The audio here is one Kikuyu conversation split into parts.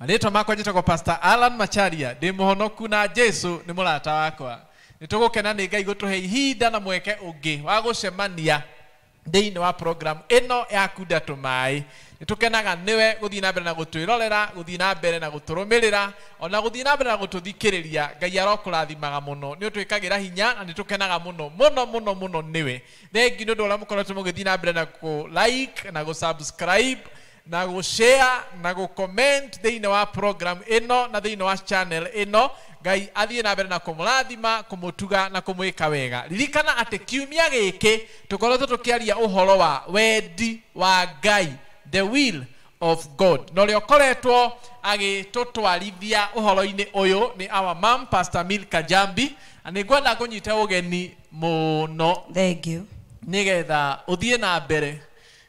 marĩtwa makwa njĩtagwo pastor alan macharia ndĩ mũhonoku na jesu nĩ mũrata wakwa nĩ tũgũkena nĩ ngai gũtũhe ihinda na mweke ũngĩ wa gũcemania thĩinĩ wa program ĩno ya kunda tũmaĩ nĩ tũkenaga nĩwe gũthiĩ na mbere na gũtwĩrorera gũthiĩ na mbere na gũtũrũmĩrĩra ona gũthiĩ na mbere na gũtũthikĩrĩria ngai arokũrathimaga mũno nĩ ũtwĩkagĩra hinya na nĩ tũkenaga mũno mũno mũno mũno nĩwe thengi nĩ ũndũ ũrĩa mũkoretwo mũgĩthiĩ na mbere na kũ like na gũ subscribe na gũ share na gũ comment thĩinĩ wa program ĩno na thĩinĩ wa channel ĩno. Ngai athiĩ na mbere na kũmũrathima, kũmũtuga na kũmwĩka wega. Ririkana atĩ kiumia gĩkĩ tũkoretwo tũkĩaria ũhoro wa wendi wa Ngai, the will of God. Na ũrĩa ũkoretwo agĩtũtwarithia ũhoro-inĩ ũyũ nĩ our mum Pastor Milka Njambi. Na nĩ ngwenda ngũnyite ũgeni mũno. Thengiũ. Nĩgetha ũthiĩ na mbere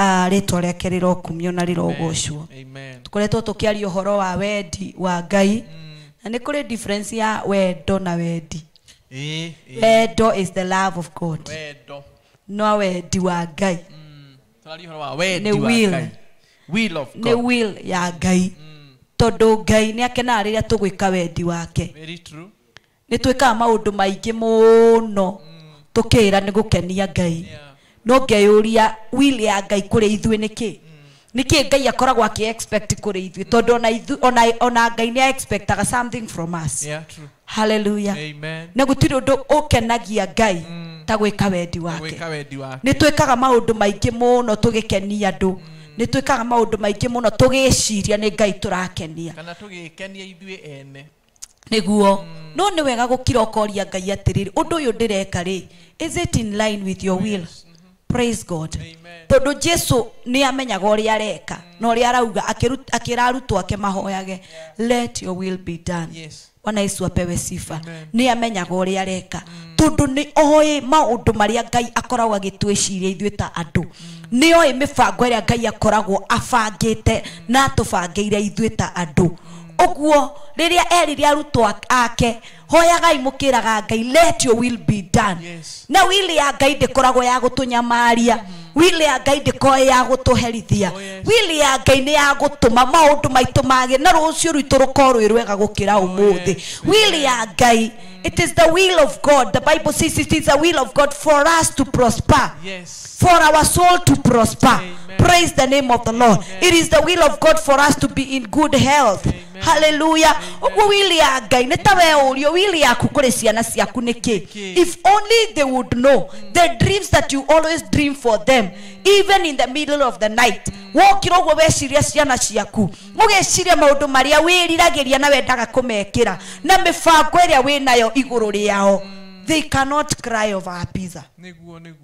Ah, rĩtwa rĩake rĩrokumio na rĩrogocwo Amen. Amen. tũkoretwo tũkĩaria ũhoro wa wendi wa ngai na nĩ kũrĩ difference ya wendo na wendi Ĩĩ, ĩĩ. wendo is the love of god Wendo. no wendi wa ngai Mm. Tũraria ũhoro wa wendi Nĩ wa will. Ngai. Will of nĩ God. will ya ngai tondũ ngai nĩ akenaga rĩrĩa tũgwĩka wendi wake Very true. nĩ twĩkaga maũndũ maingĩ mũno tũkĩĩra nĩ gũkenia Ngai. No ngeyũria will ya Ngai kũrĩ ithuĩ nĩ kĩĩ? Nĩ kĩĩ Ngai akoragwo akĩ expect kũrĩ ithuĩ? Tondũ ona ithu- ona- ona Ngai nĩ a expectaga something from us. Yeah, true. Hallelujah. Amen. Na gũtirĩ ũndũ ũkenagia Ngai ta gwĩka wendi wake. Gwĩka wendi wake. Nĩ twĩkaga maũndũ maingĩ mũno tũgĩkenia andũ. Nĩ twĩkaga maũndũ maingĩ mũno tũgĩciria nĩ Ngai tũrakenia. Kana tũgĩĩkenia ithuĩ ene. Nĩguo. No nĩ wega gũkira ũkoria Ngai atĩrĩrĩ, Ũndũ ũyũ ndĩreka-rĩ, is it in line with your will? Praise God. Tondũ Jesu nĩ amenyaga ũrĩa areka na ũrĩa arauga akĩru- akĩra arutwo ake mahoyage, let your will be done. Yes. Bwana Yesu apewe sifa. Amen. Nĩ amenyaga ũrĩa areka. Tondũ nĩ oĩ maũndũ marĩa Ngai akoragwo agĩtwĩciria ithuĩ ta andũ. Nĩ oĩ mĩbango ĩrĩa Ngai akoragwo abangĩte na atũbangĩire ithuĩ ta andũ. Ũguo rĩrĩa erire arutwo ake, hoyagai mũkĩraga Ngai, let your will be done. Yes. Na will ya Ngai ndĩkoragwo ya gũtũnyamaria. Will ya Ngai ndĩkoĩ ya gũtũherithia. Oh, yes. Will ya Ngai nĩ ya gũtũma maũndũ maitũ magĩ na rũciũ rwitũ rũkorwo rwĩ rwega gũkĩra ũmũthĩ. yes. Will ya Ngai, it is the will of God. The Bible says it is the will of God for us to prosper. Yes. for our soul to prosper. Amen. Praise the name of the Lord. Amen. It is the will of God for us to be in good health. Amen. Hallelujah. Ũguo wili ya Ngai nĩ ta we ũrio wili yaku kũrĩ ciana ciaku nĩkĩ? Nĩkĩ? If only they would know the dreams that you always dream for them even in the middle of the night. Wokĩra ũguo weciria ciana ciaku. Ũgeciria maũndũ marĩa wĩriragĩria na wendaga kũmekĩra na mĩbango ĩrĩa wĩnayo igũrũ rĩao. They cannot cry over a pizza. Nĩguo nĩguo.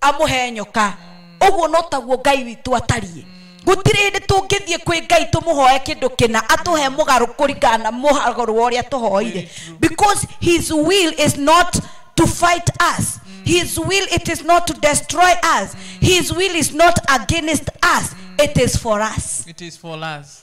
amũhe nyoka ũguo no taguo ngai witũ atariĩ gũtirĩ hĩndĩ tũngĩthiĩ kwĩ ngai tũmũhoe kĩndũ kĩna atũhe mũgarũ kũringana na mũgarũ wa ũrĩa tũhoire Very true. because his will is not to fight us his will it is not to destroy us his will is not against us it is for us it is for us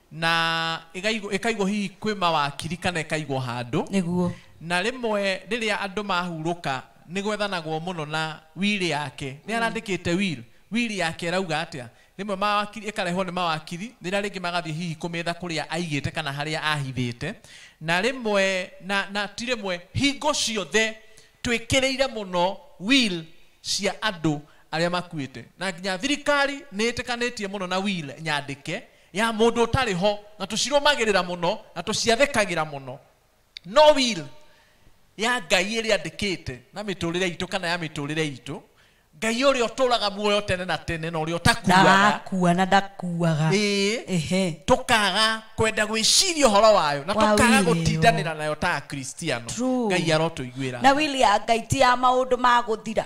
Na ĩgaigwo, ĩkaigwo hihi kwĩ mawakiri kana ĩkaigwo handũ. Nĩguo. Na rĩmwe rĩrĩa andũ mahurũka nĩ gwethanagwo mũno na will yake. Nĩ arandĩkĩte will? Will yake ĩrauga atĩa? Rĩmwe mawakiri, ĩkarehwo nĩ mawakiri, rĩrĩa rĩngĩ magathiĩ hihi kũmĩetha kũrĩa aigĩte kana harĩa ahithĩte. Na rĩmwe, na, na ti rĩmwe, hingo ciothe twĩkĩrĩire mũno will cia andũ arĩa makuĩte. Na nginya thirikari nĩ ĩtĩkanĩtie mũno na will nyandĩke. ya mũndũ ũtarĩ ho, na tũcirũmagĩrĩra mũno, na tũciathĩkagĩra mũno. No will ya Ngai ĩrĩa andĩkĩte na mĩtũrĩre itũ kana ya mĩtũrĩre itũ, Ngai ũrĩa ũtũraga muoyo tene na tene na ũrĩa ũtakuaga, ndagakua na ndakuaga ĩĩ, ehe tũkaga kwenda gwĩciria ũhoro wayo na Wa tũkaga wĩra ĩyo. gũtindanĩra nayo ta akristiano True. ngai arotũiguĩra na wili ya ngai ti ya maũndũ ma gũthira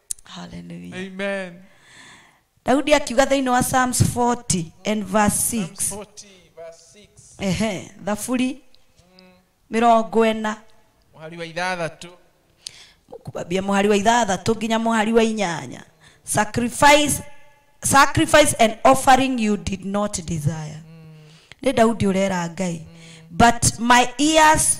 Hallelujah. Amen. daudi akiuga thĩinĩ wa psalms 40 and verse 6 Psalms 40, verse 6. ehe thaburi mĩrongo ena Mũhari wa ithathatũ. kubambia mũhari wa ithathatũ nginya mũhari wa inyanya sacrifice, sacrifice and offering you did not desire nĩ daudi ũrera ngai but my ears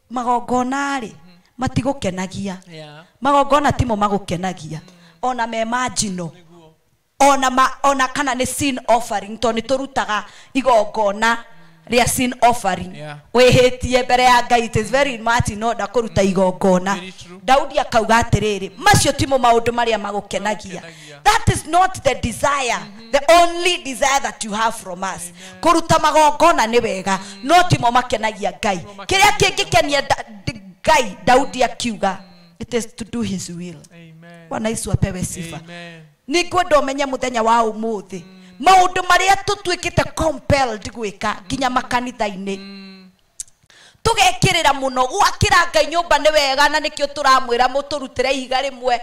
Magongona-rĩ, matigũkenagia. Magongona timo magũkenagia, o na me ma njino, o na ma, o na kana nĩ sin offering, tondũ nĩ tũrutaga igongona rĩa sin offering. Wĩhĩtie mbere ya Ngai, it is very much in order kũruta igongona. Daudi akauga atĩrĩrĩ, Macio timo maũndũ marĩa magũkenagia. Yeah. that is not the desire the only desire that you have from us kũruta magongona nĩ wega no timo makenagia ngai Timo makenagia kĩrĩa Ngai. kĩngĩkenia Da- D- ngai daudi akiuga it is to do his will Amen. bwana yesu apewe sifa Amen. nä ngwenda å menye må thenya wa å må thä maå ndå marä a tå tuä kä te gwä ka nginya makanitha-inä tũgekĩrĩra mũno gwakĩra ngai nyũmba nĩ wega na nĩkĩo tũramwĩra mũtũrutĩre ihiga rĩmwe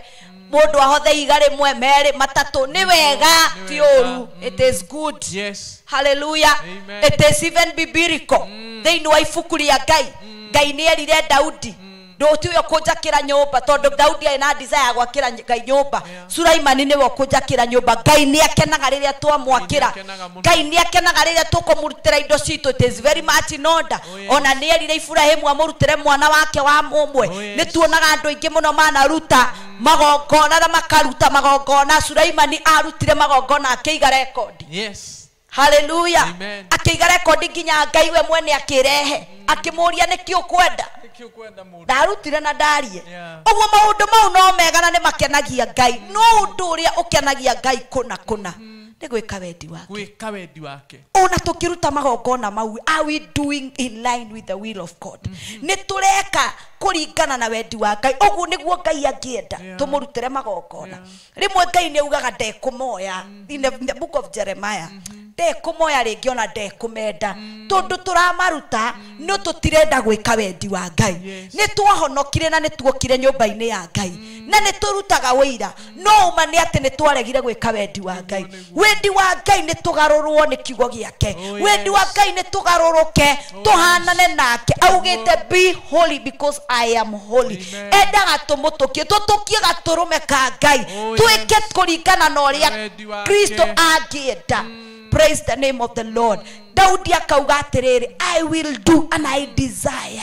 mũndũ ahothe ihiga rĩmwe merĩ matatũ nĩ Nĩguo, wega nĩ ti wega. ũru Mm. it is good Yes. haleluya Amen. it is even biblical thĩinĩ wa ibuku rĩa ngai ngai nĩ erire daudi ndũũti ũyũ kũnjakĩra nyũmba, tondũ Daudi arĩ na desire ya gwakĩra Ngai nyũmba. Yeah. Sulaimani nĩwe ũkũnjakĩra nyũmba. Ngai nĩ akenaga rĩrĩa twamwakĩra. Ngai nĩ akenaga mũno. Ngai nĩ akenaga rĩrĩa tũkũmũrutĩra indo citũ. It is very much in order. Oh, yes. O na nĩ erire Iburahimu amũrutĩre mwana wake wa mũmwe. Oh, yes. Nĩ tuonaga andũ aingĩ mũno manaruta magongona na makaruta magongona. Sulaimani aarutire magongona akĩiga rekondi. Yes. haleluya Amen. akĩiga rekondi nginya ngai we mwene akĩrehe akĩmũria nĩkĩ ũkwenda Nĩkĩ ũkwenda mũndũ? ndarutire na ndarie Yeah. ũguo maũndũ mau no mega na nĩ makenagia ngai no ũndũ ũrĩa ũkenagia ngai kũna kũna nĩ gwĩka wendi wake gwĩka wendi wake ona tũkĩruta magongona mau are we doing in line with the will of god nĩ tũreka kũringana na wendi wa ngai ũguo nĩguo ngai angĩenda Yeah. tũmũrutĩre magongona Yeah. rĩmwe ngai nĩ augaga ndekũmoya in, the, in the book of jeremiah ndekũmoya rĩngĩ ona ndekũmenda tondũ tũramaruta no tũtirenda gwĩka wendi wa ngai Yes. nĩ twahonokire na nĩ tuokire nyũmba-inĩ ya ngai na nĩ tũrutaga ũira no ũma nĩ atĩ nĩ twaregire gwĩka wendi wa ngai Nĩguo, nĩguo. wendi wa ngai nĩ tũgarũrwo nĩ kiugo gĩake Oh, wendi wa yes. ngai nĩ tũgarũrũke Oh, tũhanane nake Oh, augĩte Lord. be holy because i am holy Amen. endaga tũmũtũkie tũtũkie gatũrũme ka ngai Oh, twĩke yes. kũringana na ũrĩa Wendi wake. kristo angĩenda praise the name of the lord daudi akauga atĩrĩrĩ i will do and i desire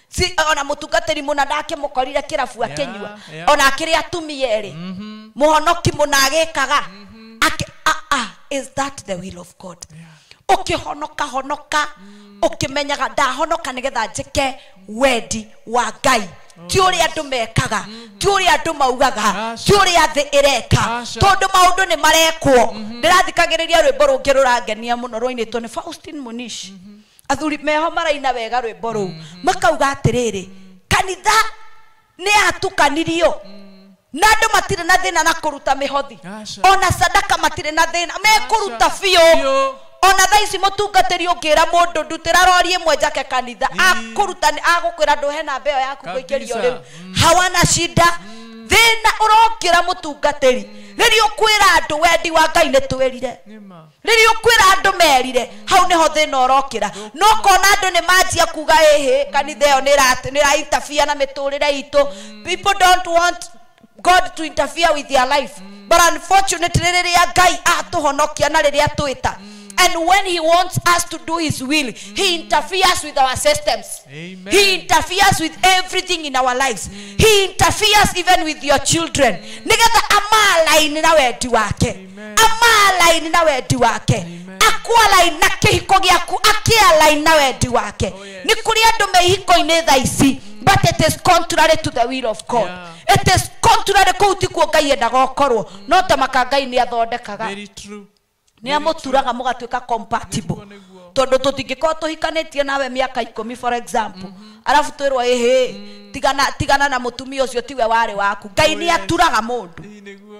si ona mutungatiri muna ndake mukorire kirabu akinyua Yeah, yeah. ona akiri atumia eri muhonoki muna agikaga Aki- ah, ah, is that the will of god ukihonoka honoka ukimenyaga ndahonoka nigetha njike wendi wa ngai ti uria andu mekaga ti uria andu maugaga Aca. ti uria thi ireka Aca. tondu maundu ni marekwo ndirathikagiriria rwimbo rungi rurangenia muno rwainitwo ni faustin munish athuri meho maraina wega rwĩmbo rũu makauga atĩrĩrĩ kanitha nĩ yatukanirio na andũ matirĩ na thĩna na kũruta mĩhothi Aca. ona sadaka matirĩ na thĩna mekũruta Aca. biũ Biũ. ona thaa ici mũtungatĩri ũngĩra mũndũ ndutĩra rori ĩmwe njake kanitha Ii. akũruta nĩ- agũkwĩra ndũhe namba ĩyo yaku kũingĩrio Kabisa. rĩu Mm. hawana shida thĩna ũrokĩra mũtungatĩri rĩrĩa ũkwĩra andũ wendi wa ngai nĩ twĩrire nĩ ma rĩrĩa ũkwĩra andũ merire hau nĩho thĩna ũrokĩra no kona andũ nĩ manjia kuga ĩhĩ kanitha ĩyo nĩ ĩra- nĩ ĩra interfere na mĩtũrĩre itũ people don't want god to interfere with their life but unfortunately rĩrĩa ngai atũhonokia na rĩrĩa twĩta and when he wants us to do his will he interferes with our systems Amen. he interferes with everything in our lives he interferes even with your children nĩgetha amalaini na wendi wake amaalaini na wendi wake Amen. akwalaini na kĩhiko gĩaku akĩalaini na wendi wake Oh, yes. nĩ kũrĩ andũ me ihiko-inĩ tha ici but it is contrary to the will of god Yeah. it is contrary kũu ti kuo ngai endaga ũkorwo no ta maka ngai nĩ athondekaga Very true. nä amũturaga mũgatuä ka compatible Nĩguo, nĩguo. tondå tå tingäkorwo tå hikanätie nawe mä aka ikå mi for example arabu twä rwo ä tigana tigana na må tumia å cio tiwe warä waku ngai Oh, nä yes. aturaga må ndå Hii nĩguo.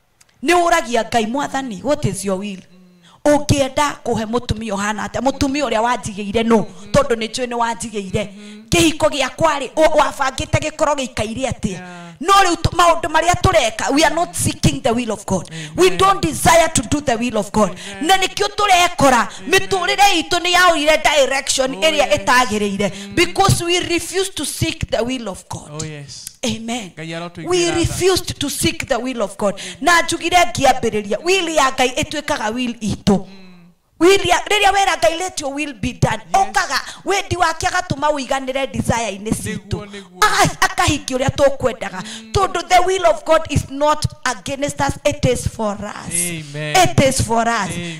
nĩ ũragia ngai mwathani what is your will ũngĩenda kũhe mũtumia ũhana atĩa mũtumia ũrĩa wanjigĩire nũ tondũ nĩ njũĩ nĩ wanjigĩire kĩhiko gĩakwa rĩ ũ- wabangĩte gĩkorwo gĩikaire atĩa no rĩu tũ- maũndũ marĩa tũreka we are not seeking the will of god we don't desire to do the will of god na nĩkĩo tũrekora mĩtũrĩre itũ nĩ yaũire direction Oh, ĩrĩa yes. ĩtagĩrĩire because we refuse to seek the will of god Oh, yes. amen ngai arotũiguĩra we tha. refused to seek the will of god na njugire ngĩambĩrĩria will ya ngai ĩtuĩkaga will itũ Will ya- rĩrĩa wera ngai let your will be done okaga wendi wake agatũma ũiganĩre desire-inĩ citũ Nĩguo, nĩguo. Aga- akahingia ũrĩa tũkwendaga tondũ the will of god is not against us it is for us Amen. it is for us Amen.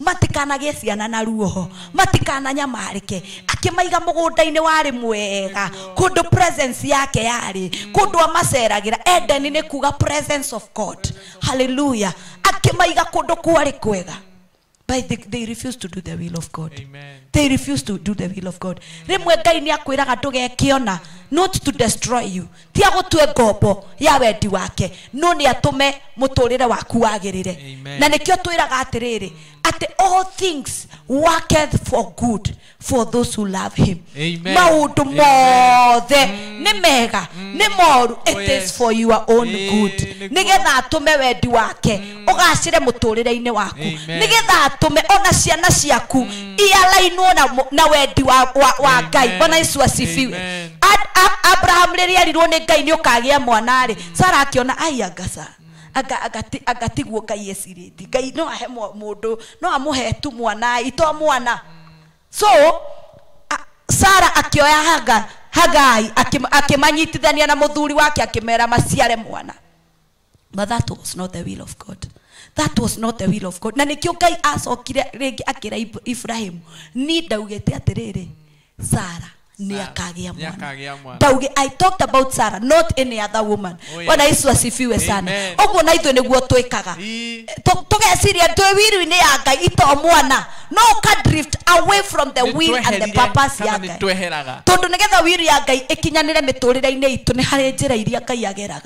matikanagĩe ciana na ruoho matikananyamarĩke akĩmaiga mũgũnda-inĩ warĩ mwega kũndũ presence yake yarĩ kũndũ amaceragĩra edeni nĩ kuga presence of god haleluya akĩmaiga kũndũ kwarĩ kwega but they, they refuse to do the will of god Amen. they refuse to do the will of god rĩmwe ngai nĩ akwĩraga ndũgeke ona not to destroy you ti agũtue ngombo ya wendi wake no nĩ atũme mũtũrĩre waku wagĩrĩre Amen. na nĩkĩo twĩraga atĩrĩrĩ atĩ all things worketh for good for those who love him Amen. maũndũ Amen. mothe nĩ mega nĩ moru it is yes. for your own Ĩĩ, good nĩguo. nĩgetha atũme wendi wake ũgacĩre mũtũrĩre-inĩ waku Amen. nĩgetha atũme ona ciana ciaku ialainwo na, mu- na wendi wa, wa, wa Amen. ngai bwana yesu asifiwe Amen. Ad- A- abraham rĩrĩa erirwo nĩ ngai nĩ ũkagĩa mwana rĩ sara akĩona ai angaca anga- angati- angatiguo ngai ecirĩti ngai no ahe mwa- mũndũ no amũhe tu mwana ito mwana so a- sara akĩoya haga hagai akĩm- akĩmanyitithania na mũthuri wake akĩmera maciare mwana but that was not the will of god that was not the will of god na nĩkĩo ngai acokire rĩngĩ akĩra Ib- iburahimu ni ndaugĩte atĩrĩrĩ sara nĩ Sara, akagĩa nĩ mwana akagĩa mwana. ndauge i talked about sara not any other woman Oh, yes. bwana yesu asifiwe sana Amen. ũguo na ithuĩ nĩguo twĩkaga Ii. Tũ- tũgeciria twĩ wiru-inĩ ya ngai ito mwana no ka drift away from the will and the Nĩtweherire purpose kana ya ngai nĩtweheraga tondå nä getha wiru ya ngai ä kinyanä re mä tå rä re-inä itå nä harä njä ra iria ngai ageraga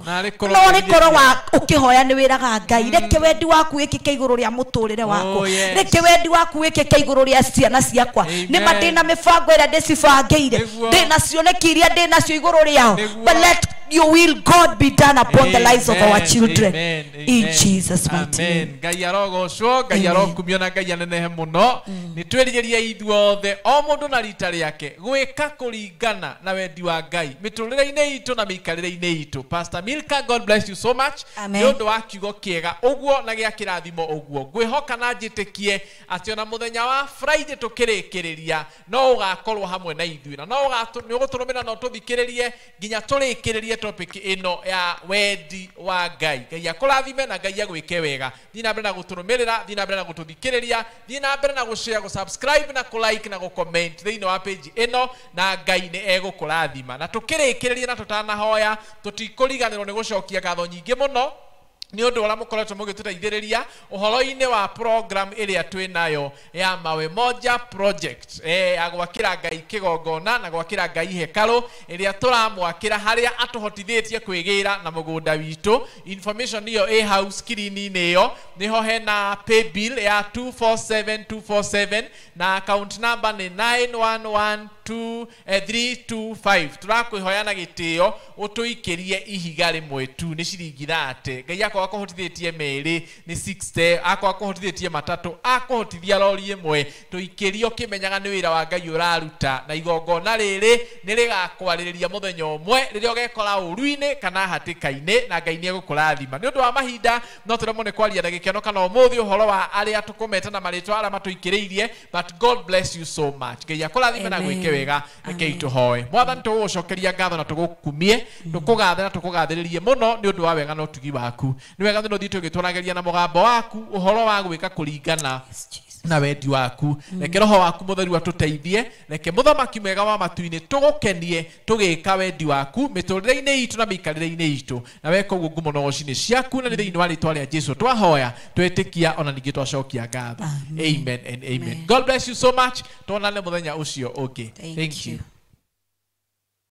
Narĩ korwo no nĩ korwo wa ngerirĩria. ũkĩhoya nĩ wĩraga ngai reke wendi waku wĩkĩke igũrũ rĩa mũtũrĩre wakwa Oh, yes. reke wendi waku wĩkĩke igũrũ rĩa ciana ciakwa Amen. nĩ ma ndĩ na mĩbango ĩrĩa ndĩcibangĩire Nĩguo. ndĩ na cioneki iria ndĩ nacio igũrũ rĩao Nĩguo. but let your will god be done upon the lives of our Amen, children amen, in amen, jesus mighty amen. name ngai arogocwo ngai Amen. arokumio na ngai anenehe mũno nĩ twĩrigĩria ithuothe o mũndũ na rita rĩake gwĩka kũringa kũringana na wendi wa Ngai mĩtũrĩre-inĩ itũ na mĩikarĩre-inĩ itũ. Pastor Milka, God bless you so much Amen. nĩ ũndũ wa kiugo kĩega ũguo na gĩa kĩrathimo ũguo. Ngwĩhoka na njĩtĩkie atĩ ona mũthenya wa Friday tũkĩrĩkĩrĩria no ũgakorwo hamwe na ithuĩ na no ũgatũ, nĩ ũgũtũrũmĩrĩra na ũtũthikĩrĩrie nginya tũrĩkĩrĩrie topic ĩno ya wendi wa Ngai. Ngai akũrathime na Ngai agwĩke wega. Thiĩ na mbere na gũtũrũmĩrĩra, thiĩ na mbere na gũtũthikĩrĩria, thiĩ na mbere na gũshare, gũsubscribe na kũlike na gũcomment thĩinĩ wa page ĩno na Ngai nĩ egũkũrathima. Na tũkĩrĩkĩrĩria na tũtanahoya, tũtikũriganĩrwo nĩ gũcokia ngatho nyingĩ mũno nĩ ũndũ wa ũrĩa mũkoretwo mũgĩtũteithĩrĩria ũhoro-inĩ wa program ĩrĩa twĩ nayo ya Mawe Moja Project eh, ya gwakĩra Ngai kĩgongona na gwakĩra Ngai hekarũ ĩrĩa tũramwakĩra harĩa atũhotithĩtie kwĩgĩra na mũgũnda witũ. Information ĩyo ĩ hau screen-inĩ ĩyo. Nĩho hena paybill ya 247247 na account number nĩ 9112 325 tũrakwĩhoya na gĩtĩo ũtũikĩrie ihiga rĩmwe tu nĩ ciringi thate Ngai akorwo akũhotithĩtie merĩ nĩ 60 akorwo akũhotithĩtie matatũ akũhotithia rori ĩmwe tũikĩrie ũkĩmenyaga nĩ wĩra wa Ngai ũraruta na igongona rĩrĩ nĩ rĩgakwarĩrĩria mũthenya ũmwe rĩrĩa ũgekora ũruinĩ kana hatĩkainĩ na Ngai nĩ egũkũrathima nĩ ũndũ wa mahinda no tũremwo nĩ kwaria na gĩkeno kana ũmũthĩ ũhoro wa arĩa tũkũmeta na marĩtwa arĩa matũikĩrĩirie But God bless you so much. Ngai akũrathime na gwĩke Amen. wega rekei Amen. tũhoe. Mwathani tũgũgũcokeria ngatho na tũgũkumie, tũkũgathe na tũkũgathĩrĩrie mũno nĩ ũndũ wa wega na ũtugi waku. Nĩ wega thĩna ũthiĩte ũgĩtwaragĩria na mũgambo waku ũhoro wa gwĩka kũringana Yes, Jesus. na wendi waku reke roho waku mũtheru atũteithie reke mũthamaki mwega wa matu-inĩ tũgũkenie Tũgĩĩka wendi waku mĩtũũrĩre-inĩ iitũ na mĩikarĩre-inĩ iitũ. Na weka ũguo ngumo nogoci nĩ ciaku, na nĩ thĩinĩ wa rĩĩtwa rĩa Jesũ twahoya, twetĩkia, o na ningĩ twacokia ngatho. Amen and amen. God bless you so much. Twonane mũthenya ũcio ũngĩ. Thank you.